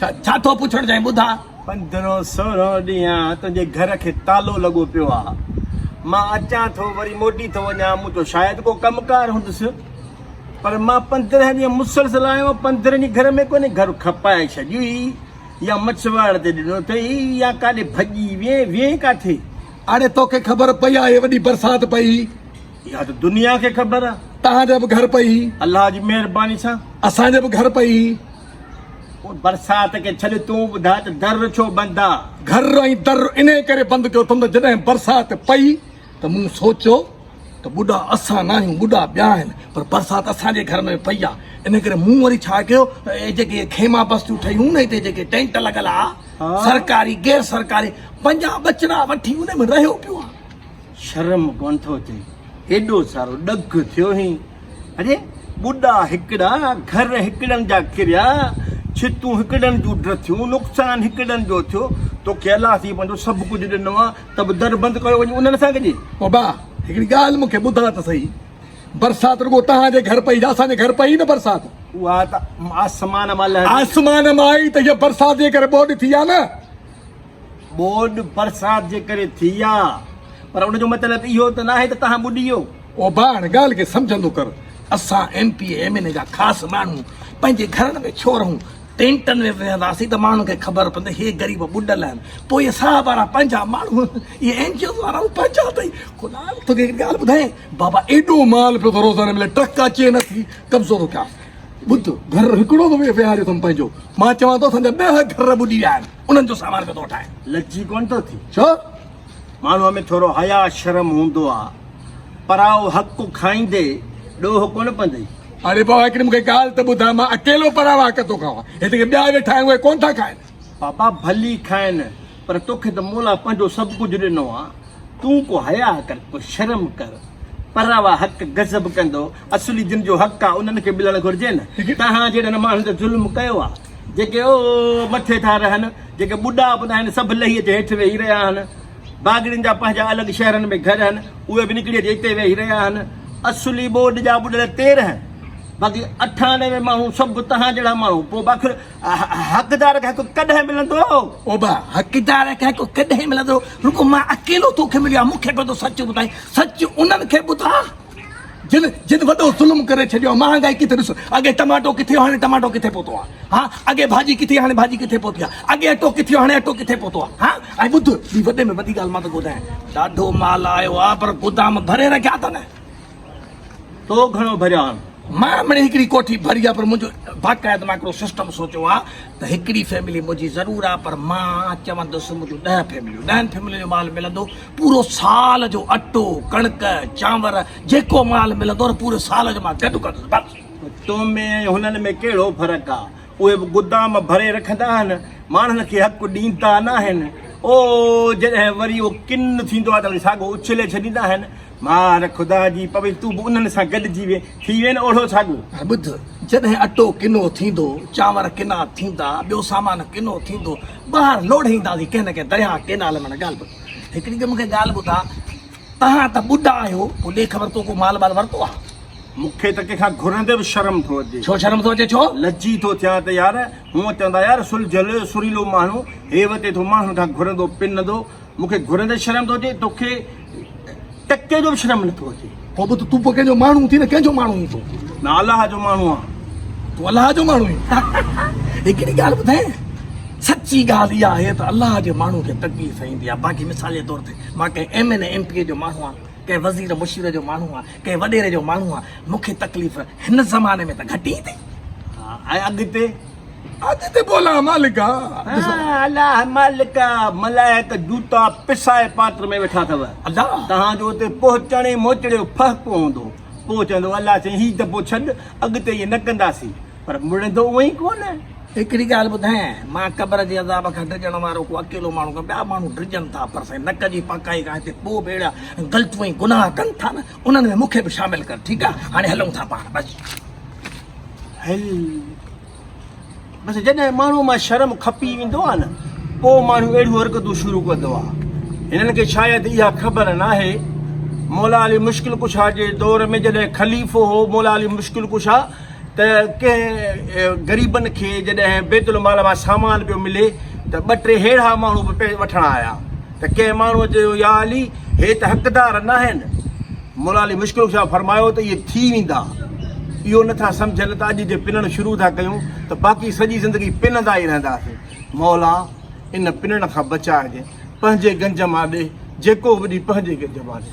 ڇا ٿو پڇڻ چاهين ٻڌاء. پندرهن سورهن ڏينهن تنهنجي گهر کي تالو لڳو پيو آ مان اچان ٿو وري موٽي ٿو وڃان مون چيو شايد ڪو ڪم ڪار هوندس پر مان پندرهن ڏينهن مسلسل آيو آهيان پندرهن ڏينهن گهر ۾ ڪونهي گهر کپائي ڇڏيو ئي يا مڇ واڙ تي ڏنو اٿئي يا ڪاڏي ڀڄي وئي وئي ڪاٿي. اڙي توکي خبر پئي آ هي وڏي برسات پئي. اها ته دنيا کي خبر آ. تهان جي به گهر پئي. الله جي مهرباني سان. اسان جي به گهر پئي. برسات کي ڇڏ تون ٻڌاء ته در ڇو بند آ؟ گهر ۽ در انهي ڪري بند ڪيو اٿم ته جڏهن برسات پئي ته مون سوچيو ته ٻڏا اسان ناهيون ٻڏا ٻيا آهن پر برسات اسان جي گهر ۾ پئي آ انهي ڪري مون وري ڇا ڪيو اهي جيڪي خيما بستيون ٺهيون نه هتي جيڪي ٽينٽ لڳل آ سرڪاري غير سرڪاري پنهنجا ٻچڙا وٺي انهي ۾ رهيو پيو آ. شرم ڪونه ٿو اچي ايڏو سارو ڏک ٿيو هين اڙي ٻڏا هڪڙا گهر هڪڙن جا ڪريا ڇتون هڪڙن جون ڊٿيون نقصان هڪڙن جو ٿيو توکي الله سي پنهنجو سڀ ڪجهه ڏنو آ ته به در بند ڪيو وڃي انهن سان ڪجي بابا هڪڙي ڳالهه مونکي ٻڌاء ته سهي برسات رڳو تهان جي گهر پئي اسان جي گهر پئي نه برسات اها ته آسمان مان آسمان مان آئي ته هي برسات جي ڪري ٻوڏ ٿي آ نه ٻوڏ برسات جي ڪري ٿي آ پر ان جو مطلب اهو ته ناهي ته توهان ٻڏيو. اوڀاڻ ڳالهه کي سمجهندو ڪر اسان M P M N A جا خاص ماڻهو پنهنجي گهرن ۾ ڇو رهون ٽينٽن ۾ به ويهنداسين ته ماڻهن کي خبر پوندي هي غريب ٻڏل آهن پوء اهي صاحب وارا پنهنجا ماڻهو اهي اين جي اوز وارا به پنهنجا اٿئي ڪنال توکي هڪ ڳالهه ٻڌايان بابا ايڏو مال پيو ٿو روزاني ملي ٽرڪ اچي نه ٿي قبضو ٿو ڪيان ٻڌ گهر هڪڙو ته ويهاريو اٿم پنهنجو مان چوان ٿو اسان جا ڏهه گهر ٻڏي ويا آهن انهن جو سامان پيو ٿو وٺائين. لڄي ڪونه ٿو ٿي؟ ڇو؟ ماڻهوء ۾ ٿورو حياء شرم هوندو آ. پرائو حق کائيندي ڏوهه ڪونه پندئي. اڙي بابا هڪڙي مون کي ڳالهه ته ٻڌاء مان اڪيلو پراوا حق ٿو کائان. هت ڪي ٻيا ويٺا آهن اهي ڪونه ٿا کائن. بابا ڀلي کائن پر توکي ته مولا پنهنجو سڀ ڪجهه ڏنو آ. تون ڪو حياء ڪر ڪو شرم ڪر. پراوا حق غضب ڪندو. اصلي جن جو حق آ انهن کي ملڻ گهرجي نه توهان جهڙن ماڻهن ته ظلم ڪيو آ جيڪي او مٿي ٿا رهن جيڪي ٻڍا به ناهن سڀ لهي جي هيٺ ويهي رهيا آهن باگڙين جا پنهنجا الڳ شهرن ۾ گهر آهن اهي به نڪري جي اتي ويهي رهيا آهن اصلي ٻوڏ جا ٻڏل تيرهن باقي اٺانوي ماڻهو سڀ توهان جهڙا ماڻهو پوء باخر حقدار کي حق ڪڏهن ملندو او با حقدار کي حق ڪڏهن ملندو رڳو مان اڪيلو توکي مليو آهيان مون کي پنهنجو سچ ٻڌائين سچ انهن کي ٻڌاء جن جن وڏو ظلم ڪري ڇڏيو آ مهانگائي ڪٿي ڏسو اڳي ٽماٽو ڪٿي هو هاڻي ٽماٽو ڪٿي پهتو آ ها اڳي ڀاڄي ڪٿي هاڻي ڀاڄي ڪٿي پهتي آ اڳي اٽو ڪٿي هو هاڻي اٽو ڪٿي پهتو آ ها ۽ ٻڌ ٻي وڏي ۾ وڏي ڳالهه مان تو ٻڌايان ڏاڍو مال آيو آ پر گودام ڀري رکيا اٿن تو گهڻو ڀريا آن مان مڙي هڪڙي ڪوٺي ڀري آ پر منهنجو باقاعده مان هڪڙو سسٽم سوچيو آ ته هڪڙي فيملي منهنجي ضرور آ پر مان چوندس منهنجون ڏهه فيمليون ڏهن فيملين جو مال ملندو پورو سال جو اٽو ڪڻڪ چانور جيڪو مال ملندو نه پوري سال جو مان گڏ ڪندس بس تو ۾ ۽ هنن ۾ ڪهڙو فرق آ اهي به گدام ڀري رکندا آهن ماڻهن کي حق ڏيندا ناهن او جڏهن وري اهو ڪن ٿيندو آ ته وري ساڳو اڇلي ڇڏيندا آهن. مار خدا جي پوي تون به انهن سان گڏجي وين ٿي وين اوڙهو ڇاڳو. ۽ ٻڌ، جڏهن اٽو ڪنو ٿيندو، چانور ڪنا ٿيندا، ٻيو سامان ڪنو ٿيندو، ٻاهر لوڙهي اينداسين ڪنهن نه ڪنهن درياهه، ڪينال ۾، معنيٰ ڳالهه ٻڌ، هڪڙي ته مون کي ڳالهه ٻڌاء، توهان ته ٻڍا آهيو، پوء ڏي خبر تو ڪو مال وال ورتو آهي؟ مون کي ته ڪنهن کان گهرندي به شرم ٿو اچي. ڇو شرم ٿو اچي ڇو؟ لجي ٿو ٿيان ته يار، هونء چوندا يار سلجهيل، سريلو ماڻهو، هيء وتي ٿو ماڻهن کان گهرندو پنندو، مون کي گهرن تي شرم ٿو اچي توکي ٽڪي جو به شرم نه ٿو اچي پوء به تون ڪنهن جو ماڻهو ٿي نه ڪنهن جو ماڻهو آهين تون نه الله جو ماڻهو آهي تون الله جو ماڻهو آهين هڪڙي ڳالهه ٻڌايان سچي ڳالهه اها آهي ته الله جي ماڻهو کي تڪليف سهندي آهي باقي مثال جي طور تي مان ڪنهن M N M P A جو ماڻهو آهيان ڪنهن وزير مشير جو ماڻهو آهيان ڪنهن وڏيري جو ماڻهو آهيان مون کي تڪليف هن زماني ۾ ته گهٽ ئي اٿي ۽ اڳتي اڄ تي بولا مالڪا الا مالڪا ملائڪ جوتا پسائي پاتر ۾ ويٺا اٿو ادا تهان جو اتي پهچڻ ۽ موچڙي جو فهڪ ڪو هوندو پوء چوندو الا سائين هي دبو ڇڏ اڳتي ائين نه ڪنداسين پر مڙندو اونئي ڪونه هڪڙي ڳالهه ٻڌايان مان قبر جي عذاب کان ڊڄڻ وارو ڪو اڪيلو ماڻهو ڪان ٻيا ماڻهو ڊڄن ٿا پر سائين نڪ جي پاڪائي کان هتي پوء به اهڙا غلطون ۽ گناهه ڪن ٿا نه انهن ۾ مون کي به شامل ڪر ٺيڪ آهي هاڻي هلون ٿا پاڻ بس هل بس جڏهن ماڻهو مان شرم کپي ويندو آهي نه پوء ماڻهو اهڙيون حرڪتون شروع ڪندو آهي هنن کي شايد اها خبر ناهي مولا علي مشڪل ڪشا جي دور ۾ جڏهن خليفو هو مولا علي مشڪل ڪشا ته ڪنهن غريبن کي جڏهن بيت المال مان سامان پيو ملي ته ٻه ٽي ههڙا ماڻهو به پئي وٺڻ آيا ته ڪنهن ماڻهوء چيو يا علي هي ته حقدار ناهن مولا علي مشڪل ڪشا فرمايو ته اهي ٿي ويندا اهو نه ٿا سمجهن ته اڄ جي پنڻ شروع ٿا ڪيون ته باقي سڄي زندگي پنندا ئي رهنداسين مولا ان پنڻ کان بچائجي پنهنجي گنج مان ڏي جيڪو به ڏي پنهنجي گنج مان ڏي.